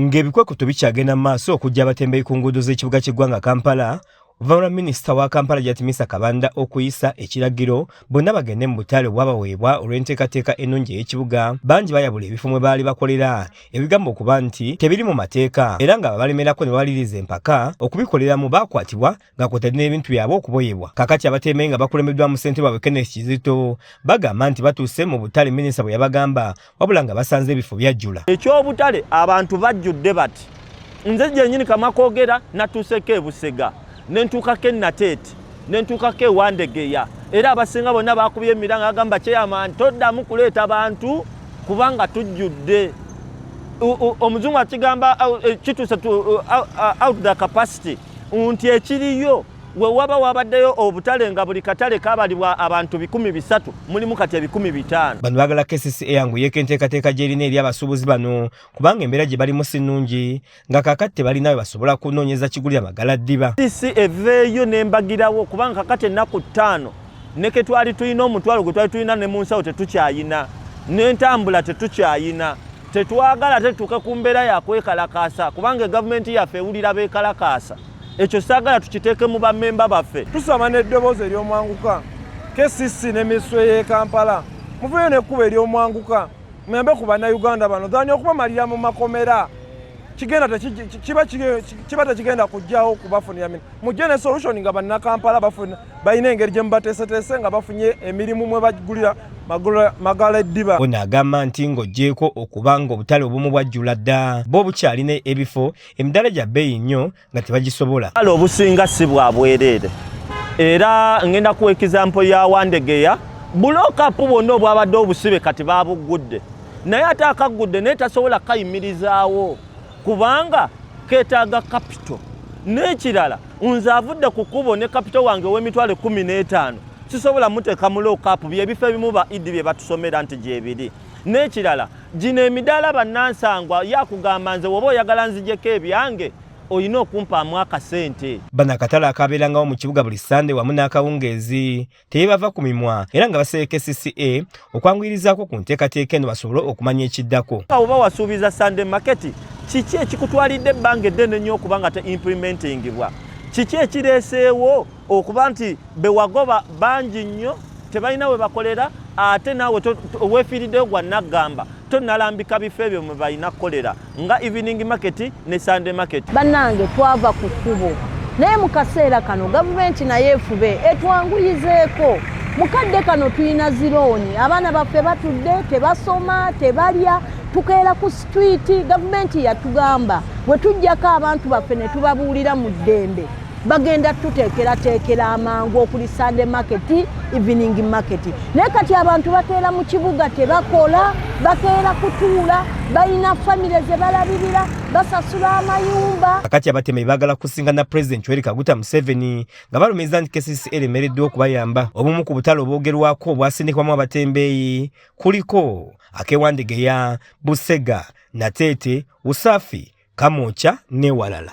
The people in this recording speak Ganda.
Ng'ebikwekweto bikyagenda mu maaso okujja abatembeyi ku nguudo z'ekibuga ky'eggwanga Kampala, oluvannyuma minisita wa Kampala Jatimisa Kabanda okuyisa ekiragiro bonna bagende mu butale obwabaweebwa olw'enteekateeka ennungi ey'ekibuga, bangi bayabula ebifo mwe baali bakolera ebigamba okuba nti tebiri mu mateeka era nga abalemerako ne bawaliriza empaka okubikoleramu baakwatibwa nga kwotadde n'ebintu byabwe okuboyebwa kakati abateemeyi nga bakulembeddwamu ssente baabwe kenneth kizito bagamba nti batuuse mu butale minisita bwe yabagamba wabula nga basanze ebifo byajjula eky'obutale abantu bajjudde bati nze gyenyini kamakogera natuuseko ebusega nentuukako enateeti nentuukako ewandegeya era abasinga bonna bakubye emiranga agamba kyeyamani toddamu kuleeta bantu kubanga tujjudde omuzungu akigamba eh, kituuse out the capacity nti ekiriyo we waba wabaddeyo obutale nga buli katale kabalibwa abantu bikumi bisatu mulimu kati ebikumi bitaano bano bagala kcc eyangu yeeko enteekateeka gy'erina eri abasuubuzi bano kubanga embeera gye balimu si nnungi nga kakati tebalina we basobola kunoonyeza kigulira magala ddiba kcc eveeyo n'embagirawo kubanga kakati ennaku ttaano ne ke twali tulina omutwalo gwe twali tulina ne mu nsawo tetukyayina n'entambula tetukyayina tetwagala tetuuke ku mbeera yakwekalakaasa kubanga egavumenti yaffe ewulira beekalakaasa ekyo saagala tukiteeke mu bammemba baffe tusaba n'eddoboozi ery'omwanguka kcc ne minisitule y'e kampala muveeyo n'ekkuba ery'omwanguka muyambe ku bannayuganda bano dhani okubamalira mu makomera kigenda kiba tekigenda kujjawo kubafunira mujje ne solution nga bannakampala bafuna balina engeri gye mubateeseteese nga bafunye emirimu mwe bagulira magala eddiba ono agamba nti ng'oggyeeko okuba ng'obutale obumu bwajjula dda bo bukyalina ebifo emidaala gya bbeeyi nnyo nga tebagisobola ale obusinga si bwa bwereere era ngenda kuwa ekizampo ya wandegeya bulookapu bwonna obwabadde obusibe kati babuggudde naye ate akaggudde naye tasobola kayimirizaawo kubanga ketaaga kapito n'ekirala nze avudde ku kkubo ne kapito wange ow'emitwalo ekkumi n'etaano sisobola muteeka mu lookapu byebifo ebimu ba idi bye batusomera nti gyebiri n'ekirala gino emidaala bannansangwa yakugamba nze woba oyagala nzijeko ebyange olina okumpaamu akasente bano akatale akaabeerangawo mu kibuga buli sande wamu n'akawungeezi tebava ku mimwa era nga basereka CCA okwanguyirizaako ku nteekateeka eno basobole okumanya ekiddako. Oba wasuubiza Sunday market, kiki ekikutwalidde ebbanga eddene nnyo okuba nga te implementingibwa? Kiki ekireeseewo okuba nti bewagoba bangi nnyo tebalina we bakolera ate naawe weefiiriddeyo gwa naggamba? tonalambika bifo ebyo mwe balina kukolera nga evening market ne sunday market bannange twava ku kkubo naye mu kaseera kano gavumenti naye efube etwanguyizeeko mu kadde kano tulina zirooni abaana baffe batudde tebasoma tebalya tukeera ku sitwiti gavumenti yatugamba bwe tujjako abantu baffe ne tubabuulira mu ddembe bagenda tuteekerateekera amangu okuli sande market evening market naye kati abantu bakeera mu kibuga tebakola bakeera kutuula balina famire ze balabirira basasula amayumba kakati abateme bagala kusinga na pulezidenti weri kaguta museveni nga balumiriza nti kcc eremereddwa okubayamba obumu ku butale obwogerwako obwasindikwamu abatembeeyi kuliko akewandegeya busega nateete usafi kamwokya newalala